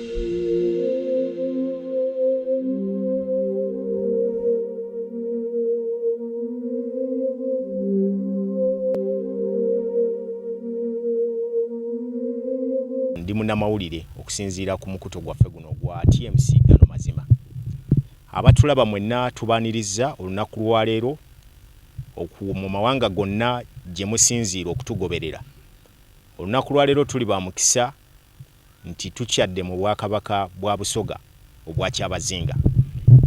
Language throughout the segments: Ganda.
ndi munamawulire okusinziira ku mukuto gwaffe guno ogwa tmc gano mazima abatulaba mwenna tubaniriza olunaku lwaleero mu mawanga gonna gye musinziira okutugoberera olunaku lwaleero tuli ba mukisa nti tukyadde mu Bwakabaka bwa Busoga obwa Kyabazinga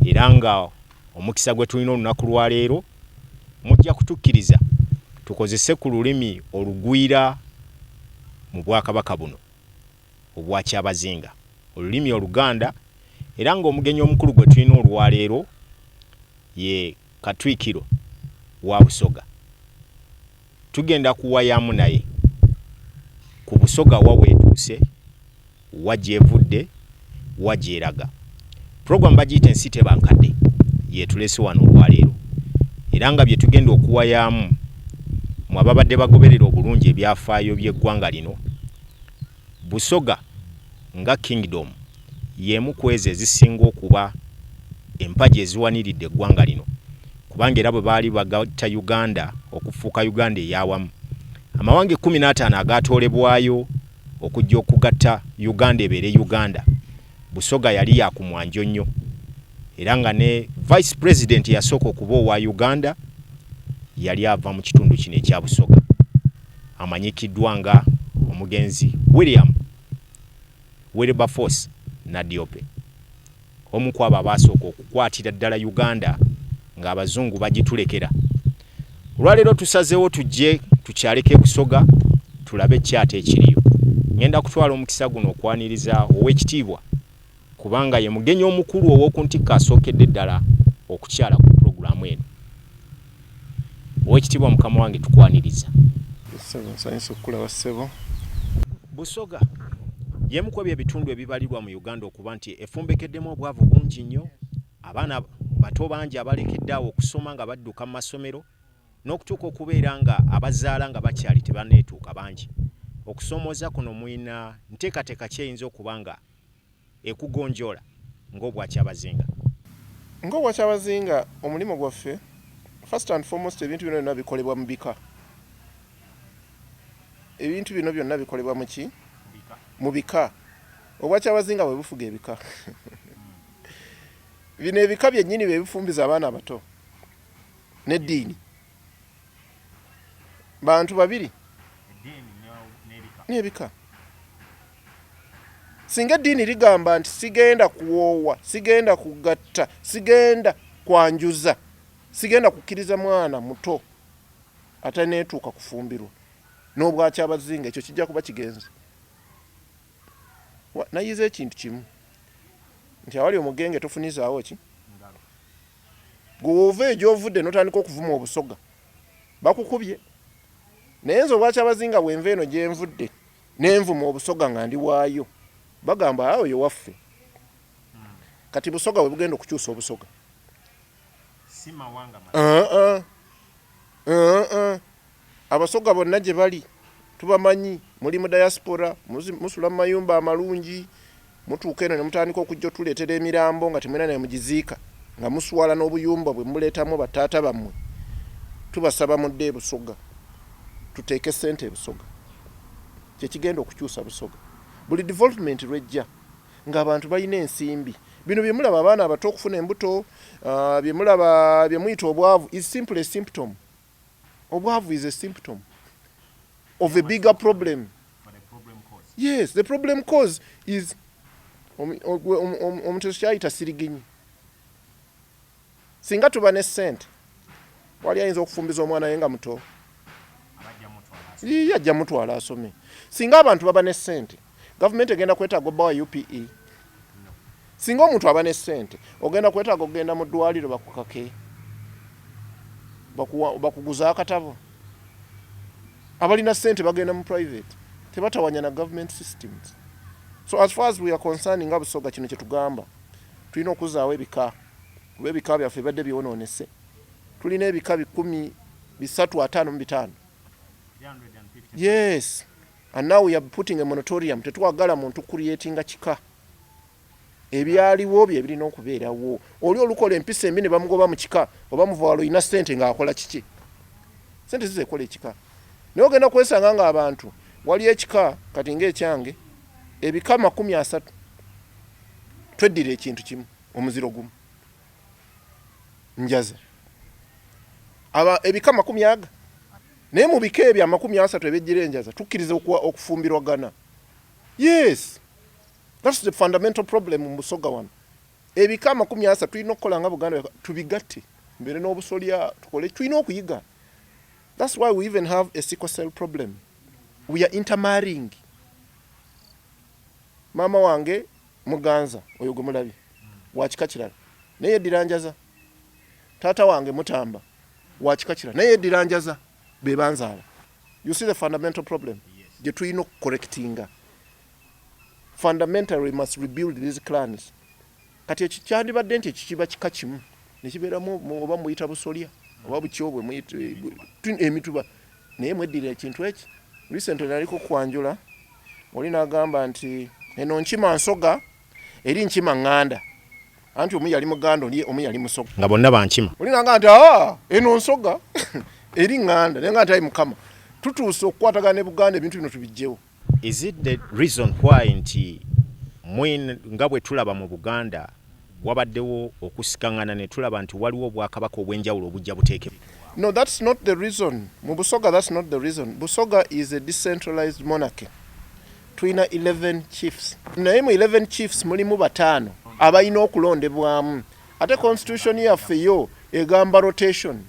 era nga omukisa gwe tulina olunaku lwa leero mujja kutukkiriza tukozese ku lulimi olugwira mu Bwakabaka buno obwa Kyabazinga, olulimi Oluganda era nga omugenyi omukulu gwe tulina olwa leero ye Katwikiro wa Busoga Tugenda kuwayamu naye ku Busoga wa weetuuse, wa gy'evudde, wa gy'eraga. Pulogulaamu bagiyita Ensi teba nkadde y'etuleese wano olwaleero era nga bye tugenda okuwayaamu mmwe ababadde bagoberera obulungi ebyafaayo by'eggwanga lino Busoga nga Kingdom y'emu kw'ezo ezisinga okuba empagi eziwaniridde eggwanga lino kubanga era bwe baali bagatta Uganda okufuuka Uganda ey'awamu, amawanga ekkumi n'ataano agaatoolebwayo okujja okugatta Uganda ebeere Uganda Busoga yali ya ku mwanjo nnyo era nga ne Vice President eyasooka okuba owa Uganda yali ava mu kitundu kino ekya Busoga amanyikiddwa nga omugenzi William Wilberforce Nadiope, omu kwabo abaasooka okukwatira ddala Uganda ng'Abazungu bagitulekera Olwaleero tusazeewo tujje tukyaleko e Busoga tulabe kyate ekiriyo. Ngenda kutwala omukisa guno okwaniriza ow'ekitiibwa kubanga ye mugenyi omukulu ow'oku ntikko asookedde ddala okukyala ku pulogulaamu eno. Ow'ekitiibwa mukama wange tukwaniriza. Ssebo nsanyuse okukulaba ssebo. Busoga y'emu kw'ebyo ebitundu ebibalirwa mu Uganda okuba nti efumbekeddemu obwavu bungi nnyo. Abaana bato bangi abalekedde awo okusoma nga badduka mu masomero n'okutuuka okubeera nga abazaala nga bakyali tebanneetuuka bangi. Okusoomooza kuno mulina nteekateeka ki eyinza okuba nga ekugonjoola ng'Obwakyabazinga? Ng'Obwakyabazinga omulimu gwaffe first and foremost ebintu bino byonna bikolebwa mu bika. Ebintu bino byonna bikolebwa mu ki? Mu bika. Obwakyabazinga bwe bufuga ebika. bino ebika byennyini bye bifumbiza abaana abato n'eddiini bantu babiri n'ebika singa eddiini ligamba nti sigenda kuwoowa sigenda kugatta sigenda kwanjuza sigenda kukkiriza mwana muto ataneetuuka kufumbirwa n'obwakyabazinga ekyo kijja kuba kigenzi nayize ekintu kimu nti awali omugenge tofunizaawo ki gwe woova egyovudde notandika okuvuma obusoga bakukubye naye nze obwakyabazinga bwenva eno gyenvudde nenvuma obusoga nga ndi waayo bagamba awo yo waffe kati busoga bwe bugenda okukyusa obusoga si mawanga uh -uh. Uh -uh. Abasoga bonna gye bali tubamanyi, muli mu diaspora, musula mu mayumba amalungi, mutuuka eno ne mutandika okujja otuleetera emirambo nga temulina ne we mugiziika, nga muswala n'obuyumba bwe muleetamu ba taata bammwe. Tubasaba mudde e Busoga, tuteeke ssente e Busoga. Kye kigenda okukyusa Busoga. Buli development lw'ejja ng'abantu balina ensimbi. Bino bye mulaba abaana abato okufuna embuto, bye mulaba bye muyita obwavu is simply a symptom. Obwavu is a symptom of a bigger problem. Yes, the problem cause is omuntu kyayita siriginyi. Singa tuba ne sente wali ayinza okufumbiza omwana we nga muto, yajja mutwala asome. Singa abantu baba ne sente Gavumenti egenda kwetaaga obba wa UPE. Singa omuntu aba ne ssente, ogenda kwetaaga okugenda mu ddwaliro bakukake, bakuguza akatabo. Abalina ssente bagenda mu private, tebatawanya na government systems. So as far as we are concerned nga Busoga kino kyetugamba, tulina okuzaawo ebika kuba ebika byaffe bibadde byonoonese. Tulina ebika bikumi bisatu ataano mu bitaano. Yes. And now we are putting a moratorium. Tetwagala muntu creatinga kika. Ebyaliwo bye birina okubeerawo. Oli olukola empisa embi ne bamugoba mu kika oba muva walo ina sente ng'akola kiki? Sente zize kola ekika. Naye ogenda kwesanga ng'abantu wali ekika kati ng'ekyange ebika makumi asatu tweddira ekintu kimu omuziro gumu njaze aba ebika makumi aga Naye mu bika ebyo amakumi asatu ebejjira enjaza tukkiriza okufumbirwagana. Yes, that's the fundamental problem mu Busoga wano. Ebika amakumi asatu tulina okukola nga Buganda tubigatte, mbeere n'obusolya tukole, tulina okuyiga. That's why we even have a sickle cell problem. We are intermarrying. Maama wange muganza oyo gwe mulabye wakika kirala naye yeddiranjaza taata wange mutamba wakika kira naye edira njaza bebanzaala you see the fundamental problem gye tulina okukorekitinga fundamentally must rebuild these clans kati ekyo kyandibadde nti ekikiba kika kimu nekibeeramu oba muyita busolya oba bukyobwe emituba naye mweddira ekintu eki recently naliko kwanjula oli nagamba nti eno nkima nsoga eri nkima nganda anti omu yali muganda oli omu yali musoga nga bonna bankima olinanga nti a eno nsoga eri nganda naye nga nti ayi mukama tutuuse okukwatagana ne buganda ebintu bino tubijjewo is it the reason why nti mwin nga bwe tulaba mu buganda wabaddewo okusikangana ne tulaba nti waliwo obwakabaka obw'enjawulo obujja buteeke no that's not the reason mu busoga that's not the reason busoga is a decentralized monarchy tulina 11 chiefs naye mu 11 chiefs mulimu bataano abalina okulondebwamu ate constitution yaffe yo egamba rotation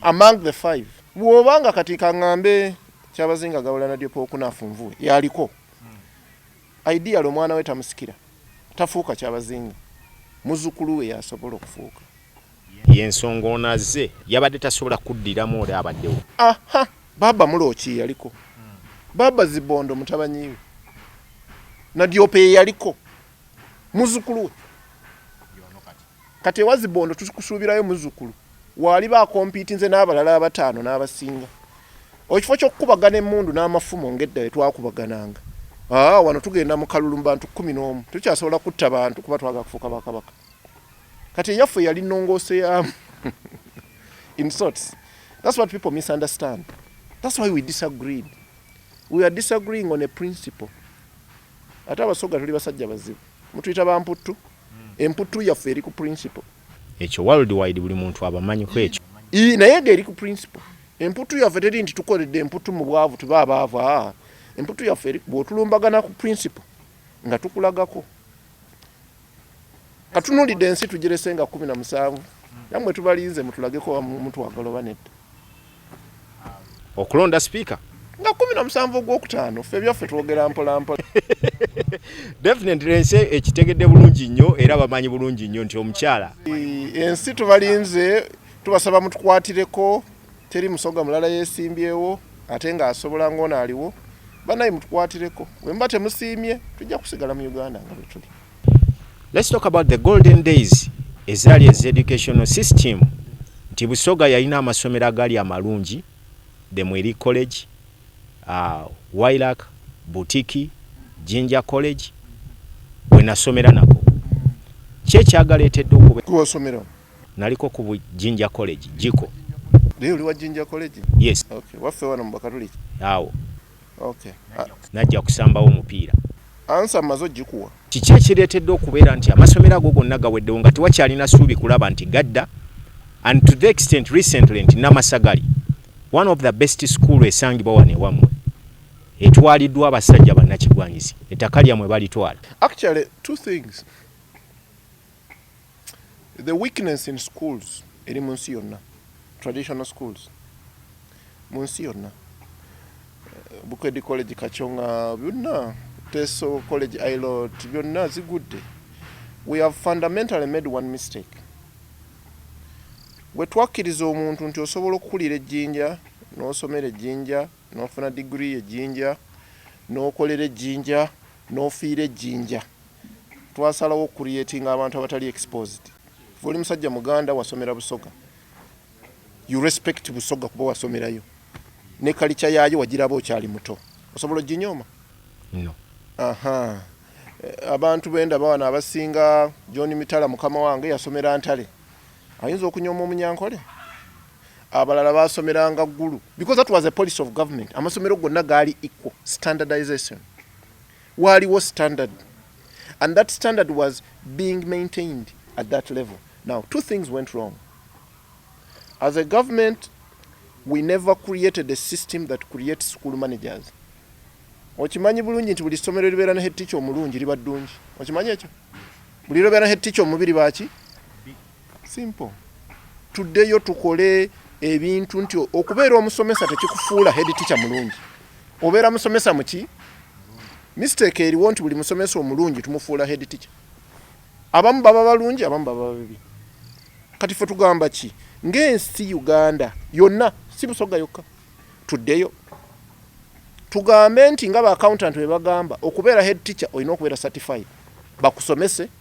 among the five bwoba nga kati kaŋambe kyabazinga gawula nadyopa okunafu nvuwe yaliko ideal omwana we tamusikira tafuuka kyabazinga muzukulu we yasobola okufuuka Yensonga ono azze yabadde tasobola kuddiramu oli abaddewo. Aha baaba mulooki yeyaliko baaba zibondo mutabanyiiwe nadyope yeyaliko muzukuluwe kati ewa zibondo tukusuubirayo muzukulu waaliba akompiitinze n'abalala abataano n'abasinga ekifo ky'okukubagana emmundu n'amafumu ng'edda we twakubagananga aa wano tugenda mu kalulu mu bantu kkumi n'omu tukyasobola kutta bantu kuba twagala kufuuka bakabaka kati eyaffe yali nongoose yamu in sorts that's what people misunderstand that's why we disagreed we are disagreeing on a principle ate abasoga tuli basajja bazibu mutuyita bamputtu hmm. emputtu yaffe eri ku principle ekyo world wide buli muntu abamanyi ku ekyo naye nga eri ku principle emputtu yaffe teri nti tukoledde emputtu mu bwavu tube abaavu aa emputtu yaffe eri bwotulumbagana ku principle nga tukulagako katunulidde ensi tugirese nga kumi na musanvu namwe tubalinze mutulageko mutwagala oba nedda okulonda sipiika nga kumi na musanvu ogwokutaano ffe byaffe twogera mpolampola definitely ensi ekitegedde bulungi nnyo era bamanyi bulungi nnyo nti omukyala ensi tubalinze tubasaba mutukwatireko Teri musoga mulala yesimbyewo ate nga asobola ng'ono aliwo. Banaye mutukwatireko wemba temusiimye tujja kusigala mu Uganda nga bwetuli. Let's talk about the golden days ezaali ezi educational system nti Busoga yalina amasomero agaali amalungi the Mweri College, uh, Wailak, Butiki, Jinja College wenasomera nako kyekyagaleetedde okuba Naliko ku Jinja College, Jiko. Naye oli wa Jinja College? Yes. Okay. Waffe wano mu Bakatuliki? Awo. Okay. Najja kusambawo omupiira. Ansa mazo jikuwa. Kiki ekireetedde okubeera nti amasomero ago gonna gaweddewo nga tewakyalina suubi kulaba nti gadda and to the extent recently nti Namasagali one of the best school esangibwa wano ewammwe etwaliddwa abasajja bannakigwanyizi ettaka lyammwe balitwala. Actually two things. The weakness in schools eri mu nsi yonna traditional schools mu nsi yonna Bukedde college Kachonga byonna Teso college Ilot byonna zigudde we have fundamentally made one mistake bwe twakkiriza omuntu nti osobola okukulira ejjinja n'osomera ejjinja n'ofuna digiri ejjinja n'okolera ejjinja n'ofiira ejjinja twasalawo okucreatinga abantu abatali exposed kuva oli musajja muganda wasomera busoga you respect busoga kuba wasomerayo ne kalica yaayo wagiraba okyali muto osobola oginyoma no. aha eh, abantu benda bawana abasinga john mitala mukama wange yasomera ntale ayinza okunyoma omunyankole abalala basomeranga ggulu because that was a policy of government amasomero gonna gaali equal standardization Waaliwo standard and that standard was being maintained at that level. Now two things went wrong. As a government we never created a system that creates school managers. Okimanyi bulungi nti buli ssomero libeera ne head teacher omulungi liba ddungi. Okimanyi ekyo? Buli libeera ne head teacher omubi liba ki? simple tuddeyo tukole ebintu nti okubeera omusomesa tekikufuula head teacher mulungi obeera musomesa muki mistake eriwo nti buli musomesa omulungi tumufuula head teacher abamu baba balungi abamu baba babibi kati fe tugamba ki ng'ensi uganda yonna si busoga yokka tuddeyo tugambe nti nga ba accountant bebagamba okubeera head teacher olina okubeera certified bakusomese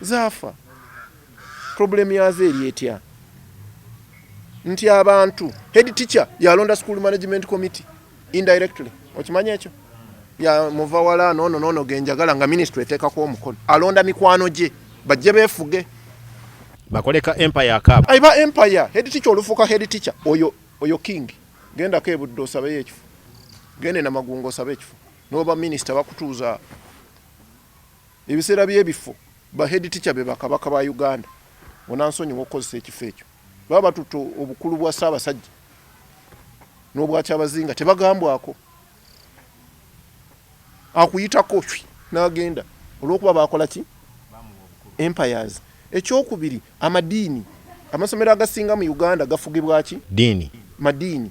Zaafa. Problem yazo eri etya? Nti abantu head teacher yalonda school management committee indirectly. Okimanya ekyo? Ya muva wala no no no no genjagala nga ministry eteka kwa omukono. Alonda mikwano gye bajje befuge. Bakoleka empire akaba. Aiba empire head teacher olufuka head teacher oyo oyo king. Genda ke buddo sabe yekifu. Gende na magungo sabe yekifu. Noba minister bakutuza Ebiseera by'ebifo ba head teacher be ba Kabaka ba Uganda. Onansonyiwa okukozesa ekifo ekyo. Baba batutte obukulu bwa Ssaabasajja n'obwa Kyabazinga tebagambwako. Akuyitako shwi n'agenda olw'okuba baakola ki? Empires. Ekyokubiri amadiini. Amasomero agasinga mu Uganda gafugibwa ki? Ddiini. Madiini.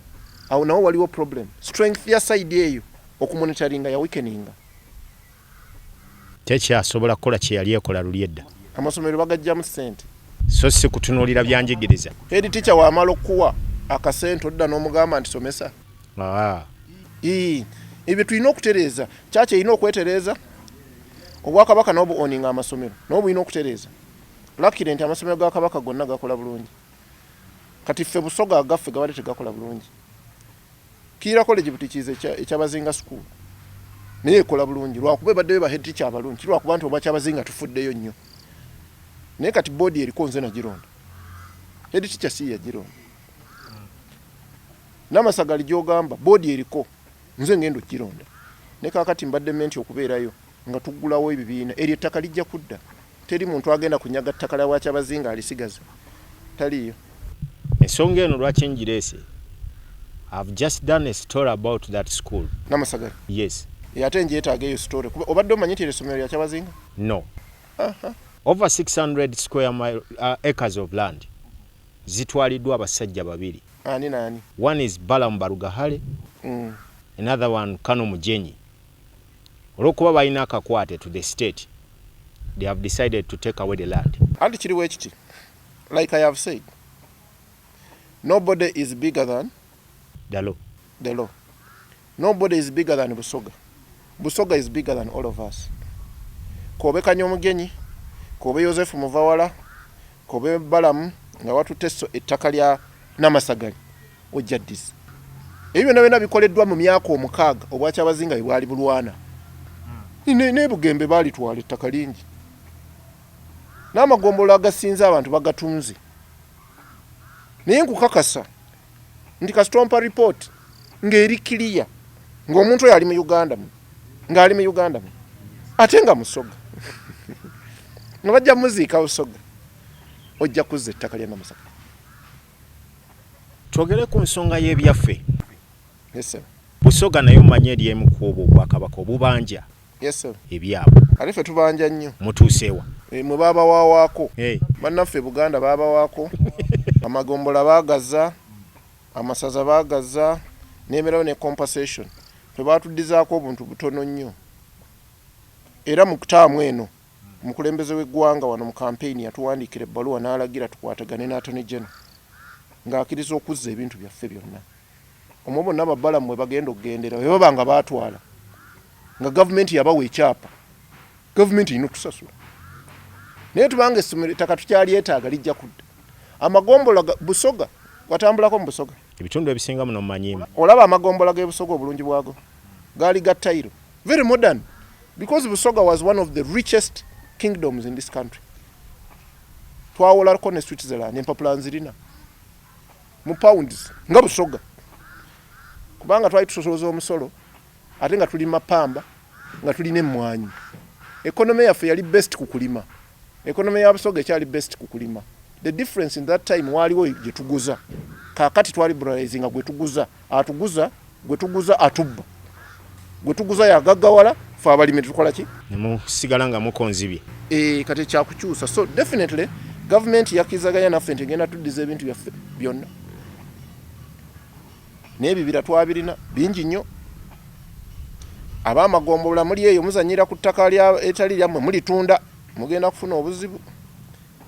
Awo nawo waliwo problem. Strength ya side eyo okumonitoringa ya weakeninga. tekyasobola kukola kye yali ekola luli edda. Amasomero bagajjamu ssente. So si kutunuulira byanjigiriza. Head teacher w'amala okukuwa akasente odda n'omugamba nti somesa. Aa. Ii, ebyo tulina okutereeza. Church erina okwetereeza. Obwakabaka nabwo bu owning amasomero. Nabwo bulina okutereeza. Luckily nti amasomero ga Kabaka gonna gakola bulungi. kati ffe busoga agaffe gabadde tegakola bulungi kiira college butikiiza ekyabazinga school naye ekola bulungi lwakuba ebaddeyo bahead teacher abalungi lwakuba nti obwakyabazinga tufuddeyo nnyo naye kati boodi eriko nze nagironda head teacher si yagironda namasagali gyogamba boodi eriko nze ngenda okugironda ne kakati mbadde menti okubeerayo nga tuggulawo ebibiina eryo ettaka lijja kudda Teri muntu agenda kunyaga ttaka lya Bwakyabazinga alisigaza. Taliiyo. Ensonga eno lwaki ngireese, I've just done a story about that school. Namasagala? Yes. Ye ate njeetaaga eyo story kuba obadde omanyi nti eryo essomero lya Kyabazinga? No. Aha. Over 600 square mile, uh, acres of land zitwaliddwa abasajja babiri. Ani naani? One is Balaam Barugahare, Mm. another one Kano Mujenyi. olwokuba balina akakwate to the state they have decided to take away the land. Anti kiri wekiti like I have said nobody is bigger than the law. The law. Nobody is bigger than Busoga. Busoga is bigger than all of us. Kobe Kanyomugenyi, Kobe Yosefu Muvawala, Kobe Balamu, nga watu teso etakali ya namasagani. ojja ddiza ebyo byonna byonna bikoleddwa mu myaka omukaaga obwakyabazinga bwe bwali bulwana ne bugembe baalitwala ettaka lingi n'amagombolola agasinze abantu bagatunze naye nkukakasa nti kasitompa ripooti ng'eri kiliya ng'omuntu oyo ali mu uganda mu ng'ali mu uganda mu ate nga musoga nga bajja muziika busoga ojja kuzza ettaka lya namusaka Twogere ku nsonga y'ebyaffe. Yes, sir. Busoga nayo manyi eri emu ku obwo obwakabaka obubanja yes, sir. ebyabwe ate ffe tubanja nnyo. Mutuuseewa e, eh, mwe baabawaawaako hey. Eh. Bannaffe Buganda baabawaako amagombola baagazza amasaza baagazza n'emerawo ne compensation ffe baatuddizaako obuntu butono nnyo era mu kutaamu eno Omukulembeze w'eggwanga wano mu kampeyini yatuwandiikira ebbaluwa n'alagira tukwatagane ne Attorney General ng'akiriza okuzza ebintu byaffe byonna omwo bonna babalamu mwe bagenda okugendera bwe baba nga baatwala nga gavumenti yabawa ekyapa gavumenti erina okusasula naye tubanga essomero ettaka tukyalyetaaga lijja kudda amagombola busoga watambulako mu busoga ebitundu ebisinga muno mumanyimu olaba amagombola g'ebusoga obulungi bwago gaali ga tayiro very modern Because Busoga was one of the richest kingdoms in this country. Twawolarko ne Switzerland, empapula nzirina. Mu pounds, nga Busoga. Kubanga twali tusosoloza omusolo, ate nga tulima pamba, nga tulina emmwanyi. Economy yaffe yali best ku kulima. Economy ya Busoga ekyali best ku kulima. The difference in that time waliwo gye tuguza. Kakati twali bralize nga gwe tuguza, atuguza, gwe tuguza atubba. Gwe tuguza ya gagawala fa abalimi tukola ki? Ne mu sigala nga muko nzibi. Eh kati kya kukyusa. So definitely government yakizaganya naffe ntegenda tuddiza ebintu byaffe byonna. naye ebibira twabirina bingi nnyo abamagombolola muli eyo muzanyira ku ttaka etali lyammwe mulitunda mugenda kufuna obuzibu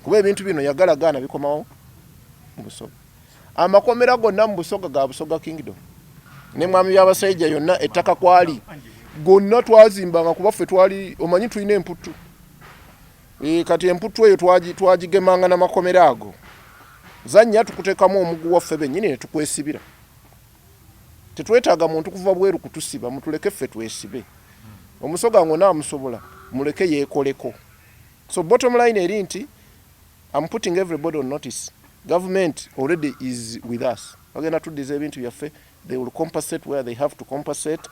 kuba ebintu bino yagala gaana bikomawo mu busoga amakomera gonna mu busoga ga busoga kingdom ne mwami byabasajja yonna ettaka kwali gonna twazimbanga kuba ffe twali omanyi tulina emputtu E, kati emputtu eyo twagigemanga na makomera ago zannya tukutekamu omugu waffe bennyini ne tukwesibira tetwetaaga muntu kuva bweru kutusiba mutuleke ffe twesibe omusoga ngo naamusobola muleke yeekoleko so bottom line eri nti am putting everybody on notice government already is with us bagenda tuddiza ebintu byaffe they will compensate where they have to compensate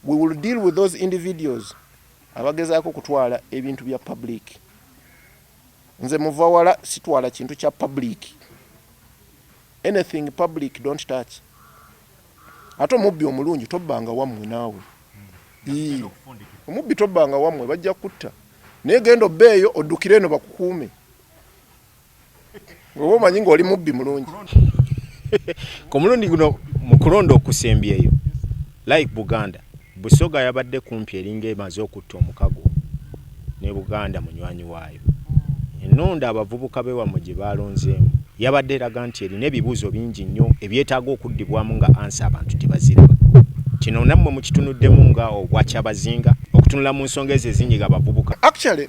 we will deal with those individuals Abagezaako okutwala ebintu bya public. Nze muva wala sitwala kintu kya public. Anything public don't touch. Ate omubbi omulungi tobbanga wammwe naawe. Ii. Omubbi tobbanga wammwe bajja kutta. Naye genda obbeeyo oddukire eno bakukuume. Wewe omanyi ng'oli mubbi mulungi. Ku mulundi guno mu kulonda okusembyeyo, like Buganda, Busoga yabadde kumpi eringa emaze okutta omukago ne Buganda munywanyi waayo. Ennonda abavubuka b'ewammwe gye baalonzeemu yabadde eraga nti erina ebibuuzo bingi nnyo ebyetaaga okuddibwamu nga ansa abantu tebaziraba. Kino nammwe mukitunuddemu nga Obwakyabazinga okutunula mu nsonga ezo ezinyiga abavubuka? Actually,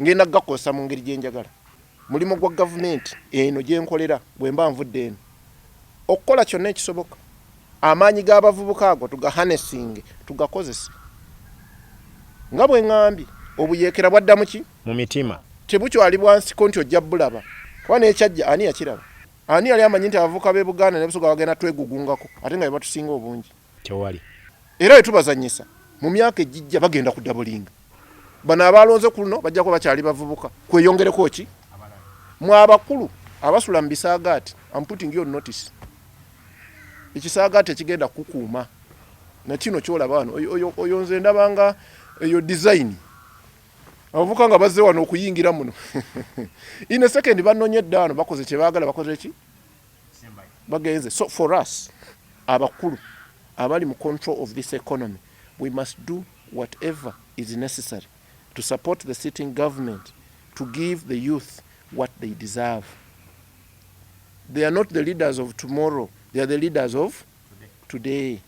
ngenda kugakozesa mu ngeri gye njagala mulimu gwa gavumenti eno gye nkolera bwe mba nvudde eno okukola kyonna ekisoboka amaanyi g'abavubuka ago tugahanesinge tugakozese nga bwe ŋambye obuyeekera bwaddamu ki mu mitima tebukyali bwansiko nti ojja bulaba kuba n'ekyajja ani yakiraba ani yali amanyi nti abavubuka b'e buganda ne busoga bagenda twegugungako ate nga bebatusinga obungi tewali era wetubazanyisa mu myaka ejijja bagenda ku dabulinga bano abaalonze ku luno bajja kuba bakyali bavubuka kweyongereko ki mu abakulu abasula mu bisaagaati am putting your notice ekisaagaati ekigenda kukuuma nakino kyolaba wano oyo nze ndabanga eyo design abavuka nga bazze wano okuyingira muno in a second banonye eddaano bakoze kyebaagala bakoze ki bagenze so for us abakulu abali mu control of this economy we must do whatever is necessary to support the sitting government to give the youth what they deserve they are not the leaders of tomorrow they are the leaders of today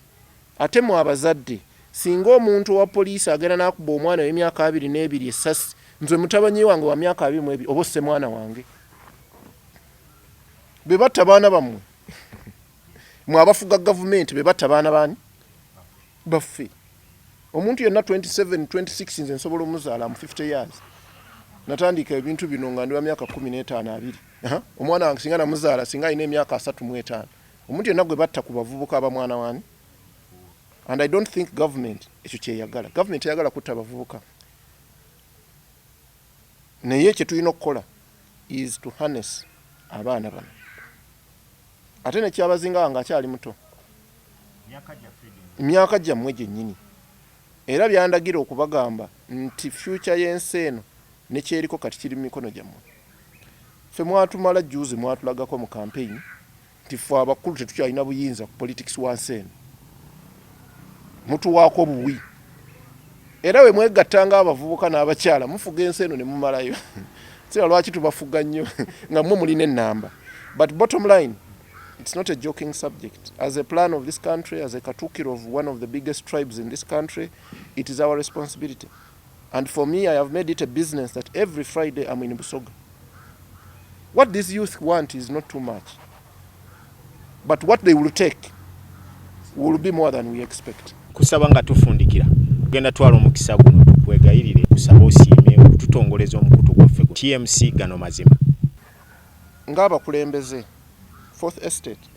ate mu abazadde singa omuntu owa poliisi agenda nakuba omwana wemyaka abiri n'ebiri esasi nze mutabanyi wange wa myaka abiri mu ebiri oba osse mwana wange bebatta baana bammwe mwe abafuga gavumenti bebatta baana baani baffe omuntu yenna 27 26 nze nsobola omuzaala mu 50 years natandika ebintu bino nga ndi wa myaka 15 abiri omwana wange singa namuzaala singa alina emyaka 35 omuntu yenna gwe batta ku bavubuka aba mwana wani and i don't think government ekyo kyeyagala government eyagala kutta abavubuka naye kyetulina okukola is to harness abaana bano ate nekyabazinga nga akyali muto myaka gyammwe gyennyini era byandagira okubagamba nti fyuca y'ensi eno nekyeriko kati kiri mu mikono gyammwe ffe mwatumala juzi mwatulagako mu kampeyini nti ffe abakulu tetukyalina buyinza ku politics wansi eno mutuwaako buwi era we mwegatta nga abavubuka n'abakyala mufuga ensi eno ne mumalayo sira lwaki tubafuga nnyo nga mwe mulina ennamba but bottom line it's not a joking subject as a plan of this country as a katukiro of one of the biggest tribes in this country it is our responsibility And for me I have made it a business that every Friday I'm in Busoga. What these youth want is not too much. But what they will take will be more than we expect. Kusaba nga tufundikira. Genda twala omukisa guno tukwegayirire kusaba osiime okututongoleza omukutu gwaffe ku TMC gano mazima. Ng'abakulembeze Fourth Estate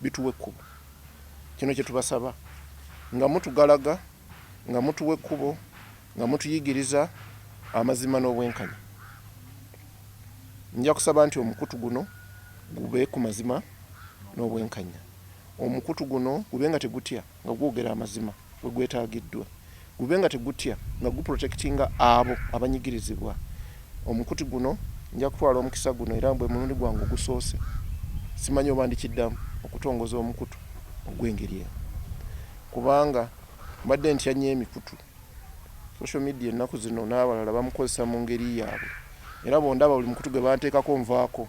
bituwa ekkubo. Kino kye tubasaba, nga mutugalaga, nga mutuwa ekkubo, nga mutuyigiriza amazima n'obwenkanya. Nja kusaba nti omukutu guno gube ku mazima n'obwenkannya. Omukutu guno gube nga tegutya, nga gwogera amazima. wegwetagiddwa gube nga tegutya nga guprotectinga abo abanyigirizibwa omukuti guno njakutwala omukisa guno era bwemulundi gwange ogusoose simanyi oba ndikiddamu okutongoza omukutu ogwengeri eno kubanga mbadde ntya nnyo emikutu social media ennaku zino n'abalala bamukozesa mu ngeri yaabwe era bwondaba buli mukutu gwebanteekako nvaako.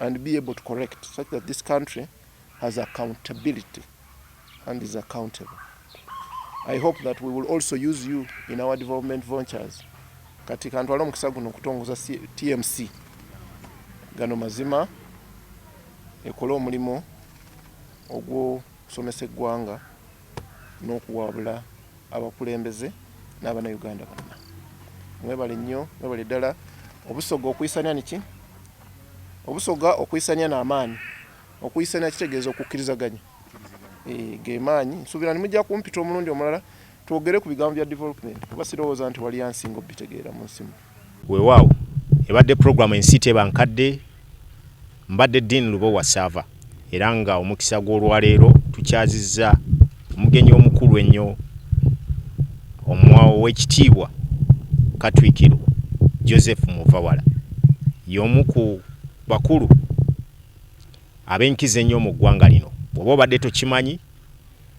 and be able to correct such that this country has accountability and is accountable. I hope that we will also use you in our development ventures. Kati kantwala omukisa guno okutongoza TMC gano mazima ekole omulimu ogw'okusomesa eggwanga n'okuwabula abakulembeze n'abanauganda bonna mwebale nnyo mwebale ddala obusoga okuyisanya niki obusoga okuyisanya n'amaanyi okuyisanya kitegeeza okukkirizaganya eh, gemaanyi nsuubira nimujja kumpita omulundi omulala twogere ku bigambo bya development kuba sirowooza nti wali yansinga obitegeera mu nsimu Weewaawo ebadde pulogulaamu ensi teba nkadde. Mbadde Dean Lubowa Ssaava era nga omukisa gw'olwaleero tukyazizza omugenyi omukulu ennyo Owekitiibwa Katwikiro Joseph Muvawala y'omu ku bakulu ab'enkizo ennyo mu ggwanga lino. Bw'oba obadde tokimanyi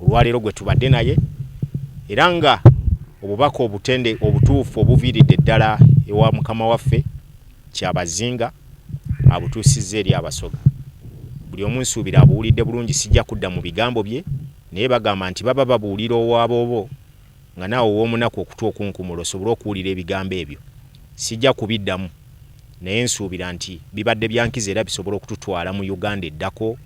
olwaleero gwe tubadde naye era nga obubaka obutende obutuufu obuviiridde ddala ewa mukama waffe Kyabazinga abutuusizza eri Abasoga. Buli omu nsuubira abuwulidde bulungi sijja kudda mu bigambo bye naye bagamba nti baba babuulira owa boobo nga naawe ow'omunaku okutu okunkumula osobole okuwulira ebigambo ebyo. Sijja kubiddamu, naye nsuubira nti bibadde bya nkizo era bisobola okututwala mu Uganda eddako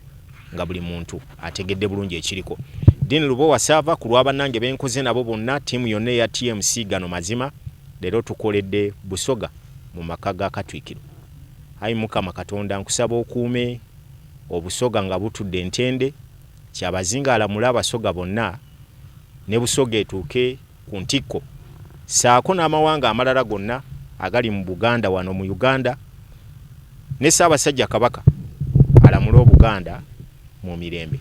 nga buli muntu ategedde bulungi ekiriko. Dean Lubowa Saava, ku lwa bannange be nkoze nabo bonna, ttiimu yonna eya TMC, gano mazima, leero tukoledde Busoga mu maka ga Katwikiro. Ayi Mukama Katonda nkusaba okuume Obusoga nga butudde ntende, Kyabazinga alamule Abasoga bonna, ne Busoga etuuke ku ntikko ssaako n'amawanga amalala gonna agali mu Buganda wano mu Uganda ne Ssaabasajja Kabaka alamule Obuganda mu mirembe.